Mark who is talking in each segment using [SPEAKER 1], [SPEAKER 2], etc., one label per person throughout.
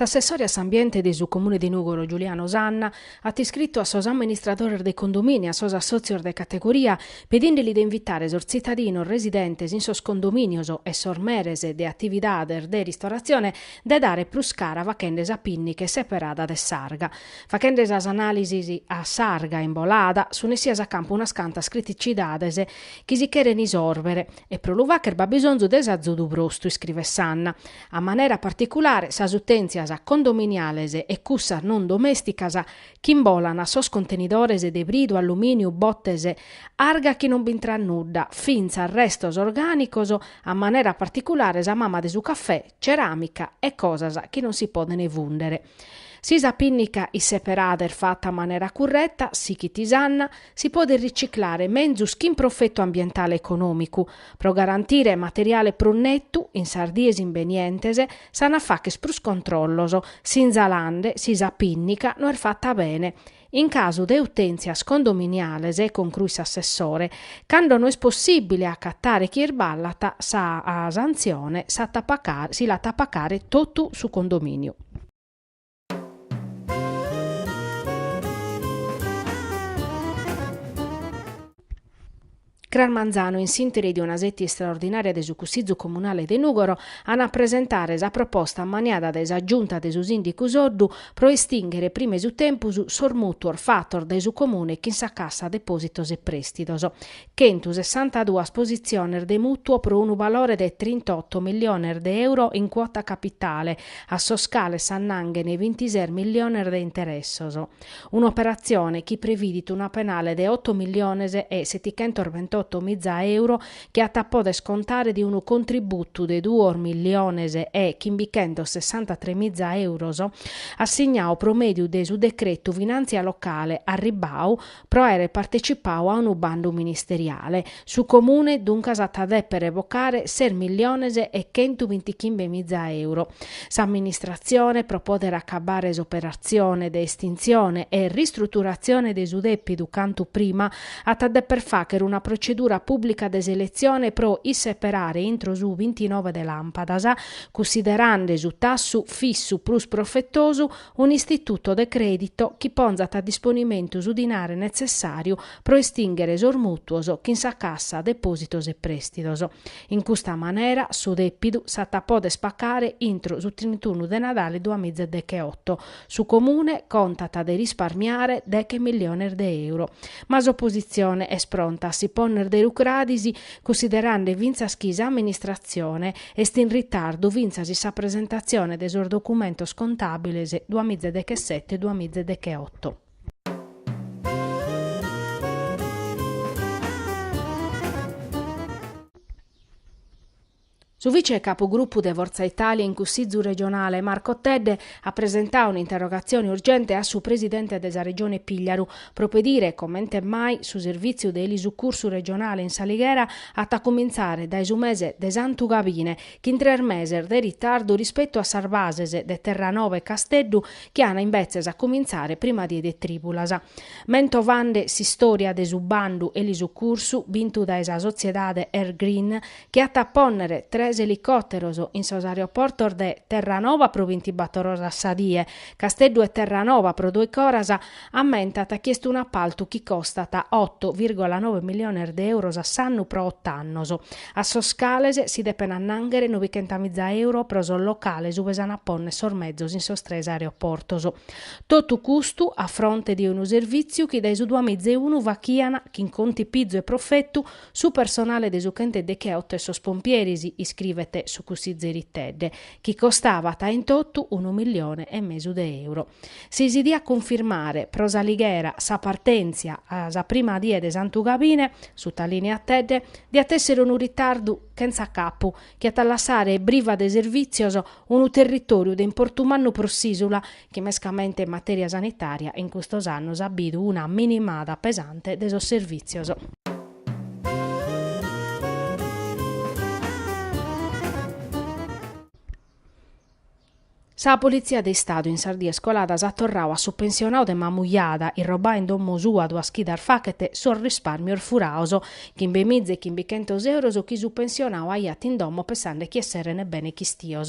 [SPEAKER 1] S'assessore a s'ambiente de su Comune de Nùgoro Giuliano Sanna at iscritu a sos amministradores de condomini e a sos assòtzios de categoria pedende·li de invitare sos tzitadinos residentes in sos condominios e sos meres de atividades de ristoratzione de dare prus cara faghende sa pìnnica isseperada de s'arga. Faghende sas anàlisis a s'arga imbolada sun essidas a campu unas cantas criticidades chi si cheren isòrbere e pro lu fàghere b'at bisonzu de s'azudu brostu, iscrivet Sanna. A manera particulare sas utèntzias condominiales e cussas non domèsticas chi imbolan in sos contenidores de bridu, allumìniu, botes, arga chi non b'intrat nudda, fintzas restos orgànicos, a manera particulare sa mama de su cafè, ceràmica e cosas chi non si podent fùndere. Si sa pìnnica isseperada est fata a manera curreta, sighit Sanna, si podet riciclare menzus chin profetu ambientale e econòmicu. Pro garantire materiale prus netu, in sas dies imbenientes, s'ant a fàghere prus controllos sinzalande si sa pìnnica no est fata bene In casu de utèntzias condominiales, concruit s'assessore, cando no est possìbile acatare chie irballat sa santzione s'at a pa si l'at a pagare totu su condomìniu. Cras manzanu in s'intere de una seti istraordinària de su Cussizu Comunale de Nùgoro an a presentare sa proposta maniada dae sa Giunta de su Sìndicu Soddu pro estinghere prima 'e su tempus sos mùtuos fatos dae su Comune chin sa Cassa Depòsitos e Prèstidos. Chentu sessanta duas positziones de mùtuu pro unu balore de trintoto milliones de euro in cuota capitale, a sos cales s'annanghen bintises milliones de interessos. un'operatzione chi previdit una penale de oto milliones e setichentos bintotto miza euro chi at a pòdere scontare de unu contributu de duos milliones e chimbichentos sessantatres miza euros assignau pro mèdiu de su decretu finàntzia locale arribbau pro àere partecipau a unu bandu ministeriale. Su Comune duncas at a dèpere bocare ses milliones e chentu bintichimbe miza euro. S'amministratzione, pro pòdere acabare s'operatzione de estintzione e ristruturatzione de su dèpidu cantu prima, at a dèpere fàghere una protzedura pùblica de seletzione pro isseperare intro su bintinove de làmpadas, cussiderande su tassu fissu prus profetosu, un'istituto de crèdito chi ponzat a disponimentu su dinare netzessàriu pro estinghere sos mutuos chin sa Cassa Depòsitos e Prèstidos. In custa manera su dèpidu s'at a pòdere staccare intro su trintunu de Nadale duas miza e decheoto. Su Comune contat de risparmiare deghe milliones de euro. Ma s'opositzione est pronta a si ponner de rucradis cussiderande fintzas chi s'amministratzione est in ritardu fintzas in sa presentatzione de sos documentos contàbiles duas miza e dechesete-duas miza e decheoto. Su vice capogruppu de Forza Italia in Cussìgiu regionale, Marco Tedde, at presentadu un'interrogatzione urgente a su presidente de sa Regione Pìgliaru, pro pedire comente mai su servìtziu de elisucursu regionale in s'Alighera at a cumintzare dae su mese de Santu Gabine, chin tres meses de ritardu rispetu a sas bases de Terranova e Casteddu, chi an inbetzes a comintzare prima die de trìbulas. Mentovande s'istòria de su bandu 'Elisucursu' bintu dae sa sotziedade Air Green, chi at a pònnere tres elicòteros in sos aeroportos de Terranova pro bintibator oras sa die, Casteddu e Terranova pro doiche oras, ammentat chi est un'appaltu chi costat oto virgola noe miliones de euros a s'annu pro oto annos, a sos cales si depen annànghere nobichenta miza euro pro sos locales ue s'an a pònnere sos mezos in sos tres aeroportos. Totu custu a fronte de unu servìtziu chi dae su duamiza e unu faghian, chin contipizu e profetu, su personale de su chenteddecheotto e sos pompieris, iscrivet su cussizeri Tedde, chi costavat in totu unu millione e mesu de euro. Si si diat cunfirmare pro s'Alighera sa partèntzia a sa prima die de Santu Gabine, sutalìniat Tedde, diat èssere unu ritardu chentza capu, chi at a lassare briva de servìtzios unu territòriu de importu mannu pro s'ìsula, chi mescamente in matèria sanitària in custos annos at bidu una minimada pesante de sos servìtzios. Sa Politzia de Istadu in sas dies coladas at torradu a su pensionadu de Mamujada, irrobau in domo sua duas chidas faghet sos rispàrmios furados, chimbe miza e chimbe chentos euros chi su pensionadu aiat in domo pensande chi esseren bene chistios.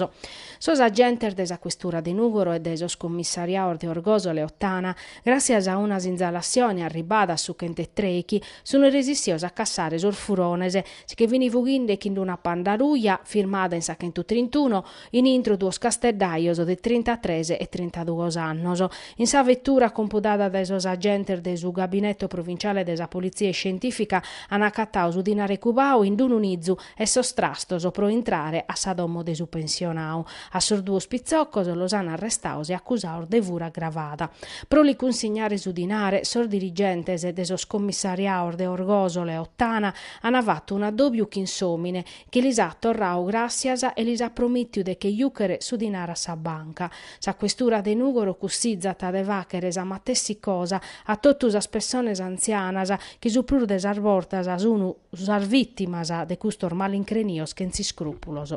[SPEAKER 1] Sos agentes de sa Questura de Nùgoro e de sos commissariados de Orgòsolo e Ottana, Gràssias a una sinzalazione arribbada a su chent'e trechi, sun resissios a cassare sos furones, chi fin fughinde chin d'una Panda ruja, firmada in sa chentu trintuno, in intro duos casteddajos de trintatres e trintaduos annos. In sa vettura compudada dae sos agentes de su Gabinetto Provinciale de sa Polizia Iscientifica, han accattadu su dinare cubau in d'unu nizu, e sos trastos pro intrare a sa domo de su pensionau. A sos duos pitzocos los an arrestaos e acusaos de fura agravada. Pro li cunsignare su dinare, sos dirigentes de sos commissariaos de Orgosole e Ottana an fatu un'addòbiu chin s'òmine, chi lis at torrau gràssias e lis at promìtiu de che jùchere su dinare a sa banca. Sa questura de Nùgoro cussizat de fàchere sa matessi cosa a totu sas pessones antzianas, chi su prus de sas bortas sun sas vìtimas de custos malincrenios chentz'iscrùpulos.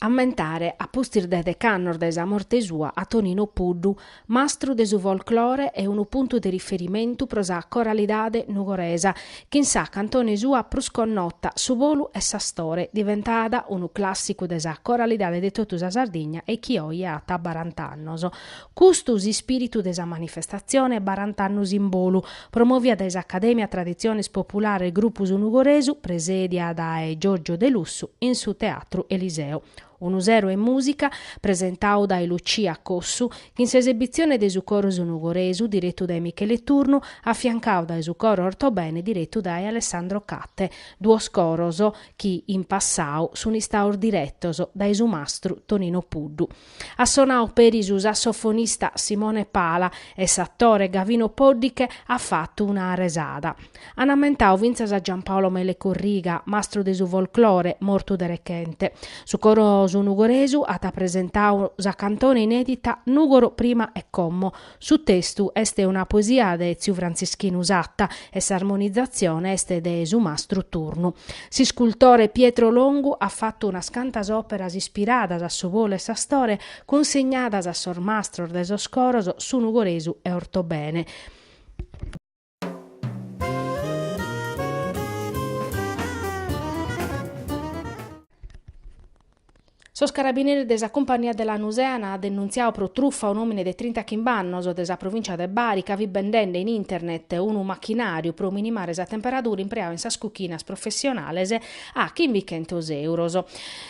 [SPEAKER 1] ammentare a pustis de dec'annos de sa morte sua a Tonino Puddu, mastru de su folklore e unu puntu de riferimentu pro sa coralidade nugoresa, chin sa cantone sua prus connota Su Bolu 'e s'Astore, diventada unu clàssicu de sa coralidade de totu sa Sardigna e chi oje at barant'annos. Custu s'ispìritu de sa manifestatzione Barant'annos in bolu, promòvia dae s'Acadèmia Traditziones Populares Grupu Su Nugoresu, presèdia dae Giorgio Delussu, in su Teatru Eliseo. Unu sero 'e mùsica, presentau dae Lucia Cossu, chin s'esebitzione de su Coro Su Nugoresu, diretu dae Michele Turnu, afiancau dae su Coro Ortobene diretu dae Alessandro Catte, duos coros chi, in passau, sun istaus diretos dae su mastru Tonino Puddu. At sonau peri su sassofonista Simone Pala e s'atore Gavino Poddiche at fatu una resada. An ammentau fintzas a Giampaolo Mele Corriga, mastru de su folklore, mortu de rechente. Su coro Su Nugoresu at presentau sa cantone inèdita Nùgoro prima e como, Su testu est una poesia de tziu Frantzischinu Satta e s'armonizatzione est de su mastru Turnu. S'iscultore Pietro Longu at fatu unas cantas òperas ispiradas a Su bolu 'e s'astore cunsegnadas a sos mastros de sos coros Su Nugoresu e Ortobene. Sos carabineres de sa Cumpagnia de Lanusè an denuntziadu pro trufa un'òmine de trintachimb'annos de sa provìncia de Bari ca fit bendende in internet unu machinàriu pro minimare sa temperadura impreau in sas cuchinas professionales a chimbichentos èuros.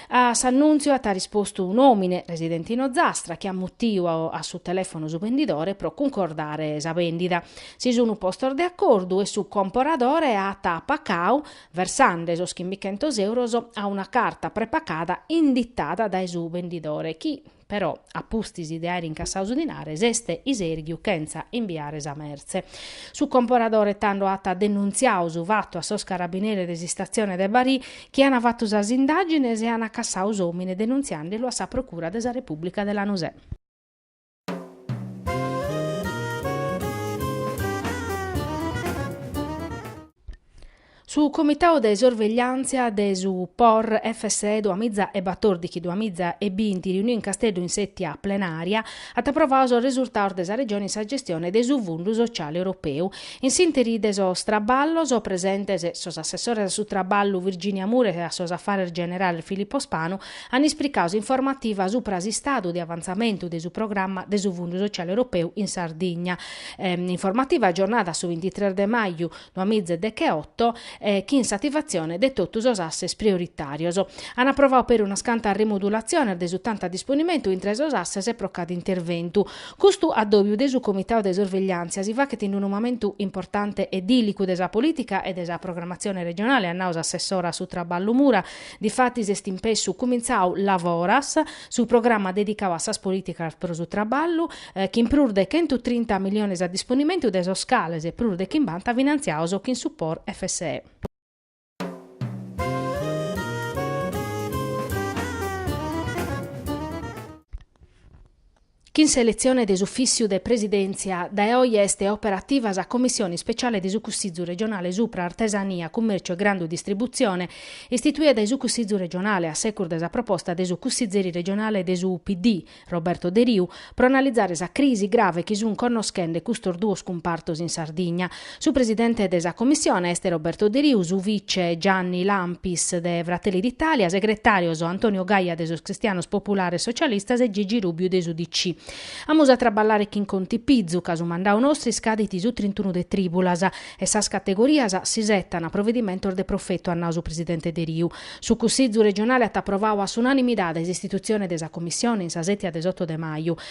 [SPEAKER 1] A s'annùntziu at rispostu un'òmine residente in Ozastra chi at mutiu a su telèfonu su bendidore pro cuncordare sa bèndida. Si sunu postos de acordu e su comporadore at pacau, versande sos chimbichentos euros a una carta prepacada inditada dae su bendidore chi, però, a pustis de aer incassau su dinare s'est isèrghiu chentza imbiare sa mertze. Su comporadore tando at denuntziau su fatu a sos carabineres de s'Istatzione de Barì chi an fatu sas indàgines e an cassau s'òmine denuntziande lu a sa Procura de sa Repùblica de Lanusè. Su Comitau de Sorvegliàntzia de su Por FSE duamiza e batòrdighi duamiza e binti riuniu in Casteddu in sètia plenària at aprovau sos resurtaus de sa Regione in sa gestione de su Fundu Sociale Europeu. In s'ìnteri de sos traballos presentes sos assessores a su Traballu Virginia Mura e a sos Afares Generales Filippo Spanu an ispricau s'informativa supra s'istadu de avantzamentu de su programma de su Fundu Sociale Europeu in Sardigna, informativa agiornada a su bintitres de maju duamiza e decheoto, chin s'ativatzione de totu sos asses prioritarios. An aprovau peri unas cantas rimudulatziones de su tantu a disponimentu intre sos asses e pro cada interventu. Custu adobiu de su Comitau de Sorvegliantzia si faghet in unu mamentu importante e dìlicu de sa politica e de sa programmatzione regionale, at nau s'assessora a su traballu Mura, Difatis est in pessu cumintzau Lavoras, su programma dedicau a sas polìticas pro su traballu, chin prus de chentu trinta miliones a disponimentu de sos cales prus de chimbanta finantziaos chin su Por FSE. Chin s'eletzione de s'Ufìssiu de Presidèntzia, dae oje est operativa sa Commissione Ispeciale de su Cussizu Regionale supra Artesania, Cummèrciu e Grandu Distributzione, istituia dae su Cussizu Regionale a secus de sa proposta de su Cussizeri Regionale de su PD, Roberto Deriu, pro analizare sa crisi grave chi sunt connoschende custos duos cumpartos in Sardigna. Su presidente de sa Commissione est Roberto Deriu, su vice Gianni Lampis de Fratelli d'Italia, segretàrios Antonio Gaia de sos Cristianos Populares Socialistas e Gigi Rubiu de s'UDC. Amus a traballare chin contipizu ca su mandau nostru iscadit su trintunu de trìbulas e sas categorias isetan provedimentos de profetu, at nau su presidente Deriu. Su Cussizu regionale at aprovau a s'unanimidade s'istitutzione de sa Commissione in sa sètia de s'oto de maju.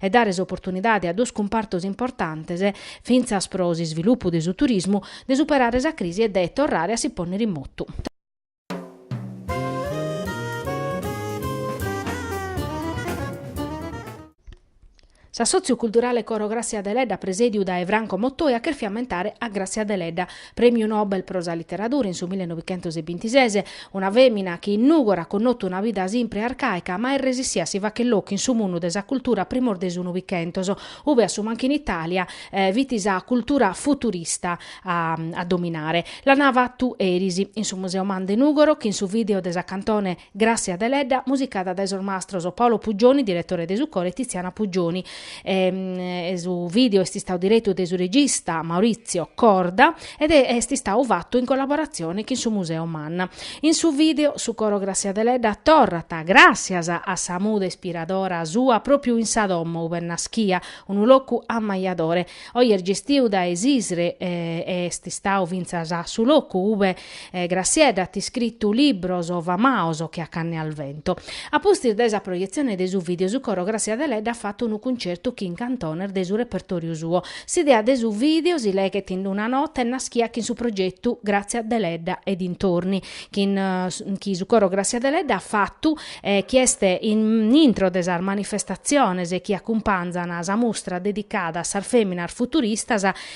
[SPEAKER 1] e dare s'oportunidade a duos cumpartos importantes, fintzas pro s'isvilupu de su turismu, de superare sa crisi e de torrare a si pònnere in motu. S'assòtziu culturale Coro Gràssia Deledda presèdiu dae Franco Mottoi at chèrfiu ammentare a Gràssia Deledda, Prèmiu Nobel pro sa literadura in su mille novichentos e bintises, una fèmina chi in Nùgoro at connotu una vida simpre e arcàica, ma est resissia a si facher locu in su mundu de sa cultura primos de su Novichentos, ube a su mancu in Itàlia fit sa cultura futurista a dominare. L'an fatu eris, in su Museu MAN de Nùgoro, chin su vìdeo de sa cantone, Gràssia Deledda, musicada dae sos mastros Paolo Puggioni, diretore de su coro, e Tiziana Puggioni. E, e su video est istadu diretu dae su regista Maurizio Corda ed e, est istadu fatu in collaboratzione chin su Museo Man. In su video, su coro Gràssia Deledda torrat, gràssias a sa musa ispiradora sua, pròpiu in sa domo ube est naschia, unu locu ammajadore. Oe est gestiu dae s'ISRE e, e est istadu fintzas su locu ube Grassiedda at iscritu libros famaos che a Canne al vento. A pustis de sa proietzione de su video su coro Grassia Deledda at fatu unu cuncertu chin cantones de su repertoriu suo. S'idea de su video si leghet in una nota est naschia chin su progettu Grazia Deledda e dintorni chi su coro Grassia Deledda at fatu e chi est in intro de sas manifestatziones chi acumpanzan sa mustra dedicada a sas feminas futuristas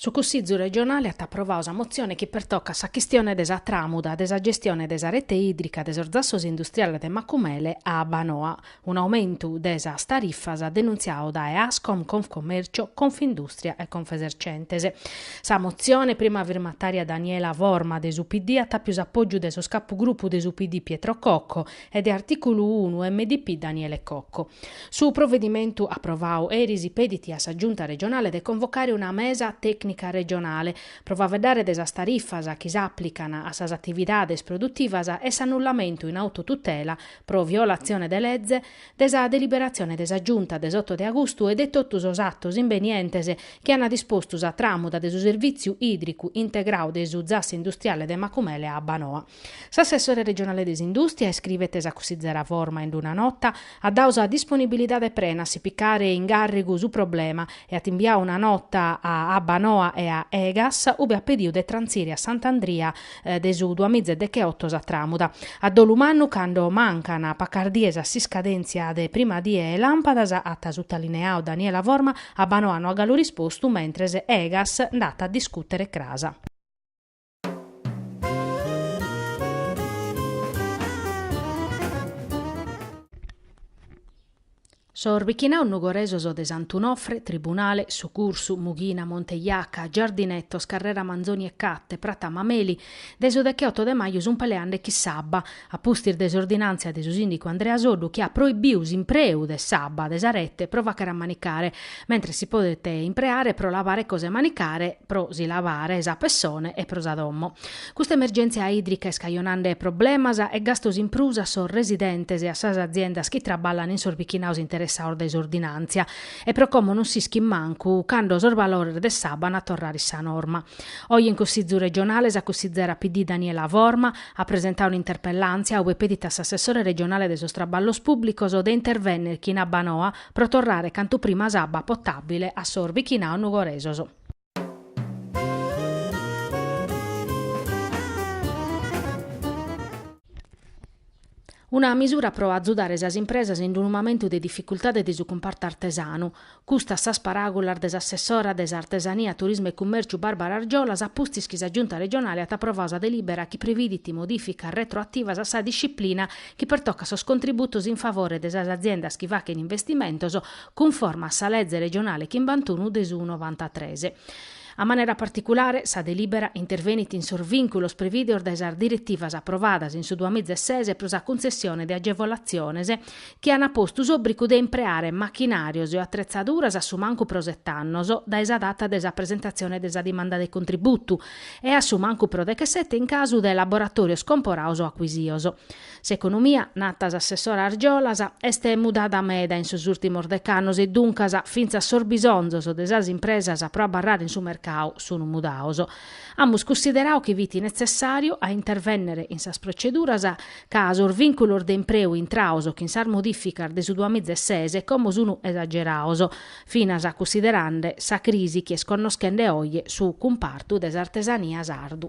[SPEAKER 1] Su Cussìgiu regionale at aprovadu sa motzione chi pertocat sa chistione de sa tràmuda de sa gestione de sa rete ìdrica de sos zassos industriales de Macumele a Abbanoa, un'aumentu de sas tarifas denuntziadu dae Ascom, Confcommercio, Confindustria e Confesercentes. Sa motzione, prima firmataria Daniela Forma de su PD, at apiu s'apògiu de sos capugrupu de su PD Pietro Cocco, e de artìculu unu MDP Daniele Cocco. Su provedimentu aprovadu eris pedit a sa Giunta regionale de convocare una mesa tècnica regionale pro faeddare de sas tarifas chi s'àplican a sas atividades produtivas e s'annullamentu in autotutela pro violatzione de lege de sa deliberatzione de sa Giunta de s'oto de agustu e de totu sos atos imbenientes chi an dispostu sa tràmuda de su servìtziu ìdricu integradu de su Zassi Industriale de Macumele a Abbanoa. S'assessore regionale de s'indùstria, iscrivet sa cussizera Forma in una nota, at dadu sa disponibilidade prena a si picare in gàrrigu su problema e at imbiadu una nota a Abbanoa e a Egas, ube at pedidu de trantzire a Sant'Andria de su duas miza e decheoto sa tràmuda. A dolu mannu, cando mancan pacas dies a s'iscadèntzia de prima die 'e làmpadas, at sutalineadu Daniela Forma, Abbanoa no at galu rispostu, mentres Egas nd'at a discùtere cras. Sos bichinaos nugoresos de Sant'Unofre, Tribunale, Su Cursu, Mughina, Monte Jaca, Giardinetos, Carrera Manzoni e Catte, Prata Mameli, de su decheoto de maju sunt peleende chin s'abba, a pustis de s'ordinàntzia de su sìndicu Andrea Soddu chi at proibiu s'impreu de s'abba de sa rete pro fàghere a manicare, mentres si podet impreare pro lavare cosa 'e manicare, pro si lavare sa pessone e pro sa domo. Custa emergèntzia ìdrica est cajonande problemas e gastos in prus a sos residentes e a sas aziendas chi traballan in sos bichinados interessados dae s'ordinàntzia e pro como non s'ischit mancu cando sos valores de s'abba an a torrare in sa norma. Oje in Cussizu Regionale sa cussizera PD Daniela Forma, at presentadu un'interpellàntzia ue pedit a s'assessore regionale de sos traballos pùblicos de intervènnere chin Abbanoa pro torrare cantu prima s'abba potàbile a sos bichinaos nugoresos. Una misura pro azudare sas impresas in unu mamentu de dificultade de su cumpartu artesanu. Custas sas paràgulas de s'assessora de s'Artesania, Turismu e Cummèrciu Barbara Argiolas a pustis chi sa Giunta regionale at aprovadu sa delìbera chi previdit modìficas retroativas a sa disciplina chi pertocat sos contributos in favore de sas aziendas chi fachent investimentos cunforma a sa leze regionale chimbantunu de su novantatres. A manera particulare, sa delìbera intervenit in sos vìnculos prevìdeos dae sas diretivas aprovadas in su duamiza e ses pro sa cuntzessione de agevolatziones chi an postu s'òbrigu de impreare machinàrios e atretzaduras a su mancu pro sete annos dae sa data de sa presentatzione de sa dimanda de contributu e a su mancu pro dechesete in casu de laboratòrios comporados o acuisidos. S'economia, nata s'assessora Argiolas, est mudada meda in sos ùrtimos dec'annos e duncas fintzas sos bisonzos de sas impresas pro abarrare in su mercadu sun mudados. Amus cussideradu chi fit netzessàriu a intervènnere in sas proceduras ca sos vìnculos de impreu intrados chin sas modìficas de su duamiza e ses como sun esagerados, finas cussiderande sa crisi chi est connoschende oje su cumpartu de s'artesania sardu.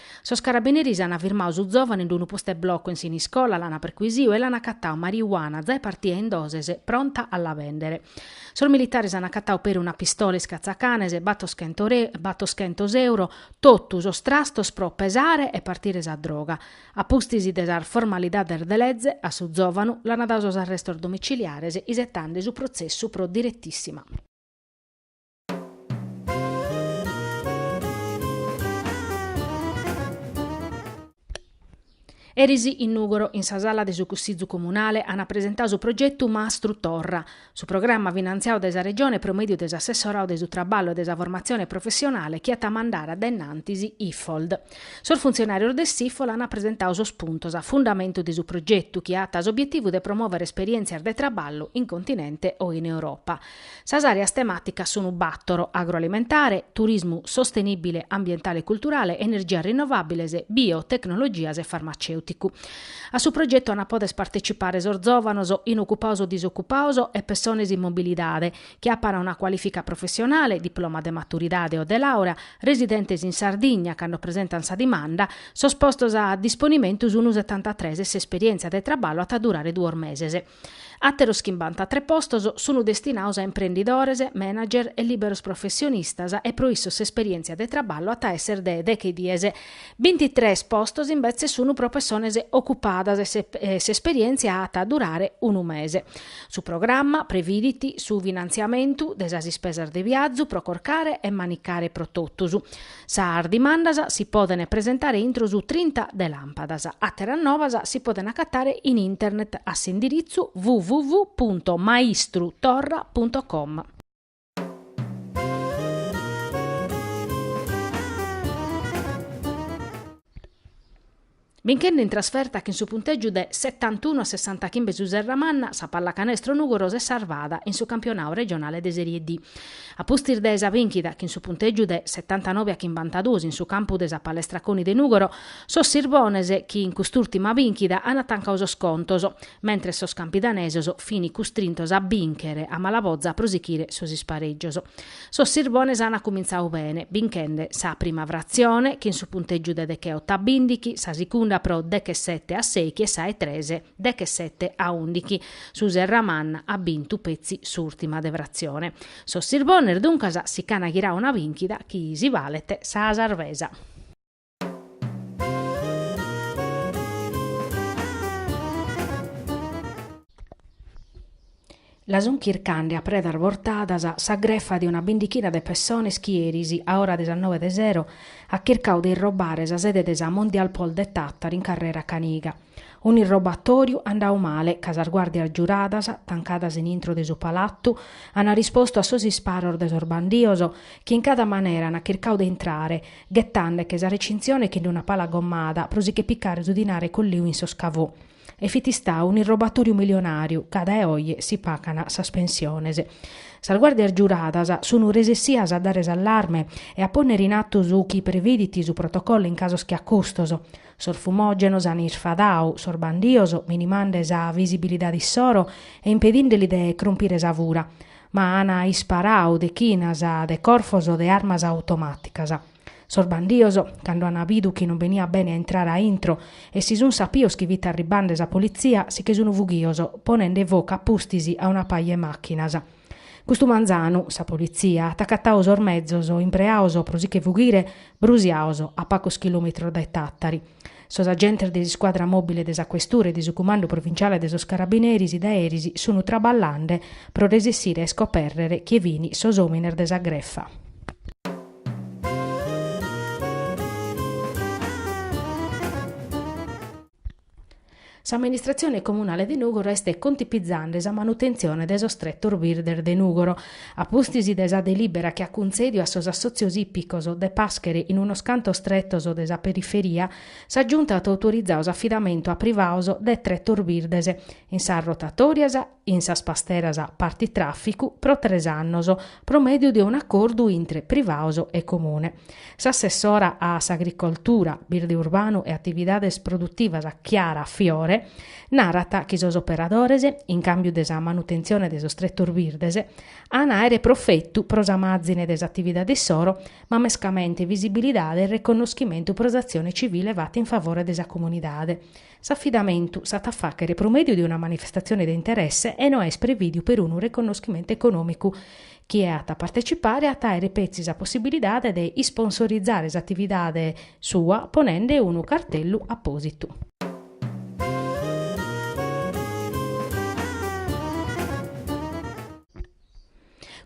[SPEAKER 1] Sos carabineris an firmadu su zòvanu in d'unu postu 'e bloco in Siniscola, l'an perchisiu e l'an acatadu mariuana, zae partida in doses, pronta a la bèndere. Sos militares an acatadu peri una pistola iscatzacanes, batos chentos euro, totu sos trastos pro pesare e partire sa droga. A pustis de sas formalidades de leze, a su zòvanu l'an dadu sos arrestos domiciliares isetende su protzessu pro diretissima. Eris in Nùgoro, in sa sala de su Cussizu Comunale, ant presentau su progetu Mastru Torra. Su programma finantziau dae sa Regione pro mèdiu de s'assessorau de su Traballu e de sa Formatzione Professionale chi at a mandare dae innantis Iffold. Sos funtzionàrios de s'Iffold ant presentau sos puntos a fundamentu de su progetu chi at s'obietivu de promòvere esperièntzias de traballu in continente o in Europa. Sas àreas temàticas sunu bàtoro, agroalimentare, turismu sostenìbile ambientale e culturale, energias rinnovàbiles, biotecnologias e farmacèuticu. A su progetu ant a poder partecipare sos zòvanos, inocupados o disocupados, e pessones in mobilidade, chi apant una cualìfica professionale, diploma de maturidade o de làurea, residentes in Sardigna, cando presentant sa dimanda, sos postos a disponimentu sunu setantatres e s'esperièntzia de traballu at a durare duos meses. Àteros chimbantatres postos sun destinados a imprendidores, manager e lìberos professionistas e pro issos s'esperièntzia de traballu at a èssere de deghe dies. Bintitres postos imbetzes sun pro pessones ocupadas e s'esperièntzia at a durare unu mese. Su programma previdit su finantziamentu de sas ispesas de viazu pro corcare e manicare pro totus. Sas dimandas si podent presentare intro su trinta de làmpadas. Àteras novas si podent acatare in internet a s'indiritzu www punto maistru torra punto com. Binchende in trasferta chin su puntègiu de setantunu a sessantachimbe su Serramanna, sa Pallacanestro Nùgoro s'est sarvada in su campionau regionale de Serie D. A pustis de sa bìnchida chin su puntègiu de setantanobe a chimbantaduos in su campu de sa Palestra Coni de Nùgoro, sos sirbones chin cust'ùrtima bìnchida ant tancadu sos contos, mentres sos campidanesos fin custrintos a bìnchere a mala boza pro sichire sos isparègios. Sos sirbones an acumintzadu bene, binchende sa prima fratzione chin su puntègiu de degheoto a bìndighi, sa segunda pro deghesete a sèighi e sa 'e tres deghesete a ùndighi. Su Serramanna at bintu petzi s'ùrtima de fratzione. Sos sirbones duncas si ch'an ghiradu una bìnchida chi si balet sa sarvesa. La sun chircande a predas bortadas sa grefa de una bindichina de pessones chi eris, a ora de sas nobe de sero, at chircadu de irrobare sa sede de sa Mondialpol de Tàtari in Carrera Caniga. Un'irrobatòriu andadu male, ca sas guàrdias giuradas, tancadas in intro de su palatu, ant rispostu a sos isparos de sos bandidos, chi in cada manera ant chircadu de intrare, ghetande che sa recinzione chin d'una pala gommada pro si che piccare su dinare colliu in sos cavò. E fit istadu un'irrobatoriu milionariu, ca dae oje si pacan sas pensiones. Sas guardias giuradas sun resessias a dare s'allarme e a ponnere in attu su chi previdit su protocollo in casos che a custos. Sos fumogenos han isfadadu sos bandios minimande sa visibilidade issoro e impedinde li de crompire sa fura. ma an isparau dechinas de corfos de armas automàticas. Sos bandios, cando an bidu chi non beniat bene a intrare a intro e si sunt sapios chi fit arribande sa politzia si che sunt fughios, ponende focu a pustis a una paja 'e màchinas. Custu manzanu, sa politzia, at acatadu sos mezos impreados pro si che fughire, brusiados a pagos chilòmetros dae Tàtari. Sos agentes de s'iscuadra mòbile de sa questura e de su cumandu provinciale de sos carabineris dae eris sun traballande pro resessire a iscopèrrere chie fin sos òmines de sa grefa. S'amministratzione comunale de Nùgoro est contipizande sa manutentzione de sos tretos birdes de Nùgoro. A pustis de sa delìbera chi at cuntzèdiu a sos assòtzios ìpicos de pàschere in unos cantos tretos de sa periferia, sa Giunta at autorizadu s'afidamentu a privados de tretos birdes in sas rotatòrias, in sas pasteras partitràficu pro tres annos pro mèdiu de un'acordu intre privados e Comune. S'assessora a s'Agricoltura, Birde Urbanu e Atividades Produtivas Chiara Fiore narat chi sos operadores, in càmbiu de sa manutentzione de sos tretos birdes, an a àere profetu pro sa màzine de s'atividade issoro, ma mescamente visibilidade e reconnoschimentu pro s'atzione civile fata in favore de sa comunidade. S'afidamentu s'at a fàghere pro mèdiu de una manifestatzione de interesse e no est prevìdiu perunu reconnoschimentu econòmicu. Chie at a partecipare at a àere petzi sa possibilidade de isponsorizare s'atividade sua ponende unu cartellu apòsitu.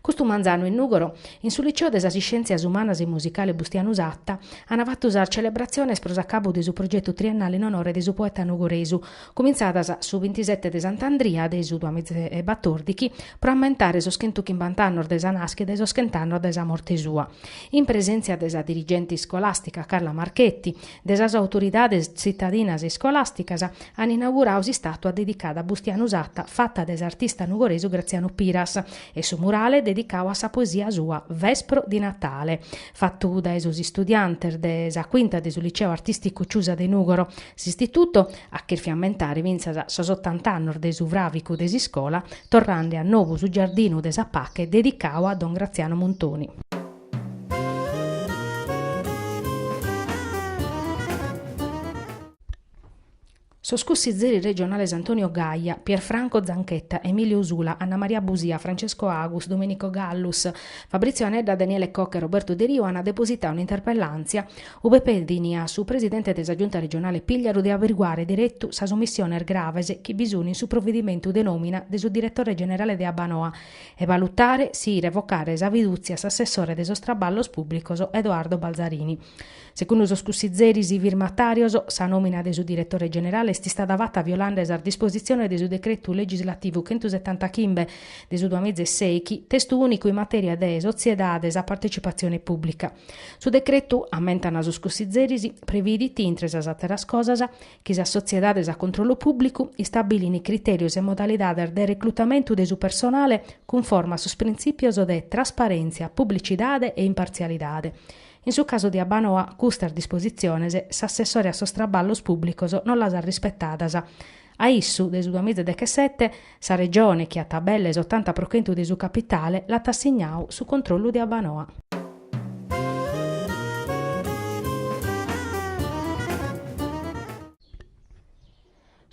[SPEAKER 1] Custu manzanu in Nùgoro, in su Liceo de sas Iscièntzias Umanas e Musicale Bustianu Satta, ant fatu sas celebratziones pro s'acabu de su progetu triennale in onore de su poeta nugoresu, cumintzadas su bintisete de Sant'Andria de su duamiza e batòrdighi, pro ammentare sos chentu chimbant'annos de sa nàschida e sos chent'annos de sa morte sua. In presèntzia de sa dirigente iscolàstica Carla Marchetti, de sas autoridades tzitadinas e iscolàsticas, an inauguradu s'istàtua dedicada a Bustianu Satta fata de s'artista nugoresu Graziano Piras e su murale dedicadu a sa poesia sua Vespro di Natale, fatu dae sos istudiantes de sa Quinta de su Liceo Artìsticu Ciusa de Nùgoro, s'istitutu at chèrfiu ammentare fintzas sos otant'annos de su fràvicu de s'iscola, torrande a nobu su Giardinu de sa Pache dedicadu a don Graziano Muntoni. Sos cussizeris regionales Antonio Gaia, Pierfranco Zanchetta, Emilio Usula, Anna Maria Busia, Francesco Agus, Domenico Gallus, Fabrizio Anedda, Daniele Cocca e Roberto Deriu ant depositadu un'interpellàntzia ube pedint a su presidente de sa Giunta regionale Pigliaru de averiguare deretu sas omissiones graves chi bi sunt in su providimentu de nòmina de su diretore generale de Abbanoa e balutare si revocare sa fidùtzia a s'assessore de sos traballos pùblicos Edoardo Balzarini. Segundu sos cussizeris firmatàrios, sa nòmina de su diretore generale est istada fata violande sas dispositziones de su decretu legislativu chentusetantachimbe de su duamiza e sèighi, testu ùnicu in matèria de sotziedades a partecipatzione pùblica. Su decretu, ammentant sos cussizeris, previdit, intre sas àteras cosas, chi sas sotziedades a controllu pùblicu istabilin critèrios e modalidades de reclutamentu de su personale cunforma a sos printzìpios de trasparèntzia, publicidade e impartzialidade. In su casu de Abbanoa custas dispositziones s'assessore a sos traballos pùblicos non las at rispetadas. A issu, dae su duamiza e dechesete, Sa Regione, chi at belle s'otanta pro chentu de su capitale, l'at assignau su controllu de Abbanoa.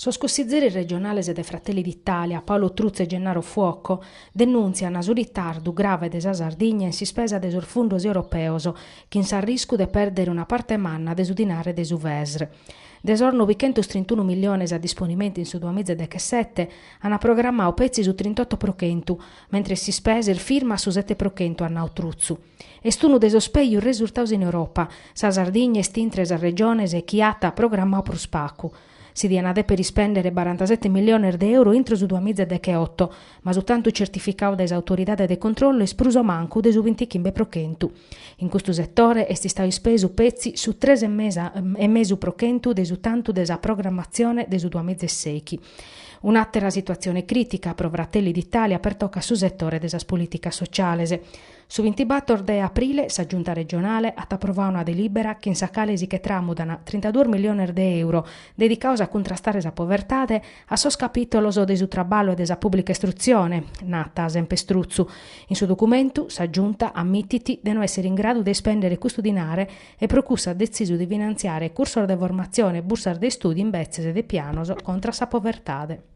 [SPEAKER 1] Sos cussizeris regionales de Fratelli d'Italia, Paolo Truzzu e Gennaro Fuoco, denùntziant su ritardu grave de sa Sardigna in s'ispesa de sos fundos europeos, chin s'arriscu de pèrdere una parte manna de su dinare de su Fesr. De sos novichentos trintunu milliones a disponimentu in su duamiza dechesete, an programmau petzi su trintotto pro chentu, mentres s'ispesa est firma a su sete pro chentu, at nau Truzzu. Est unu de sos pègius resurtaus in Europa. Sa Sardigna est intre sas regiones chi at programmau prus pagu. Si dian a dèpere ispèndere barantasete milliones de euro intro su duamiza decheotto, ma su tantu certificau dae s'Autoridade de Controllo est prus o mancu de su bintichimbe pro chentu. In custu setore est istau ispesu petzi su tres e mesu pro chentu de su tantu de sa programmatzione de su duamiza e sèichi. Un'àtera situatzione crìtica pro Fratelli d'Italia, pertocat su setore de sas polìticas sociales. Su bintibator de aprile sa Giunta regionale at aprovau una delìbera chin sa cale si che tramudan trintaduos miliones de euro dedicaos a cuntrastare sa povertade A sos capìtolos de su traballu e de sa pùblica istrutzione, nat semper Truzzu. In su documentu sa Giunta ammitit de no èssere in gradu de ispèndere custu dinare e pro cussu at detzisu de finantziare cursos de formatzione e bursas de istùdiu imbetzes de pianos contra a sa povertade.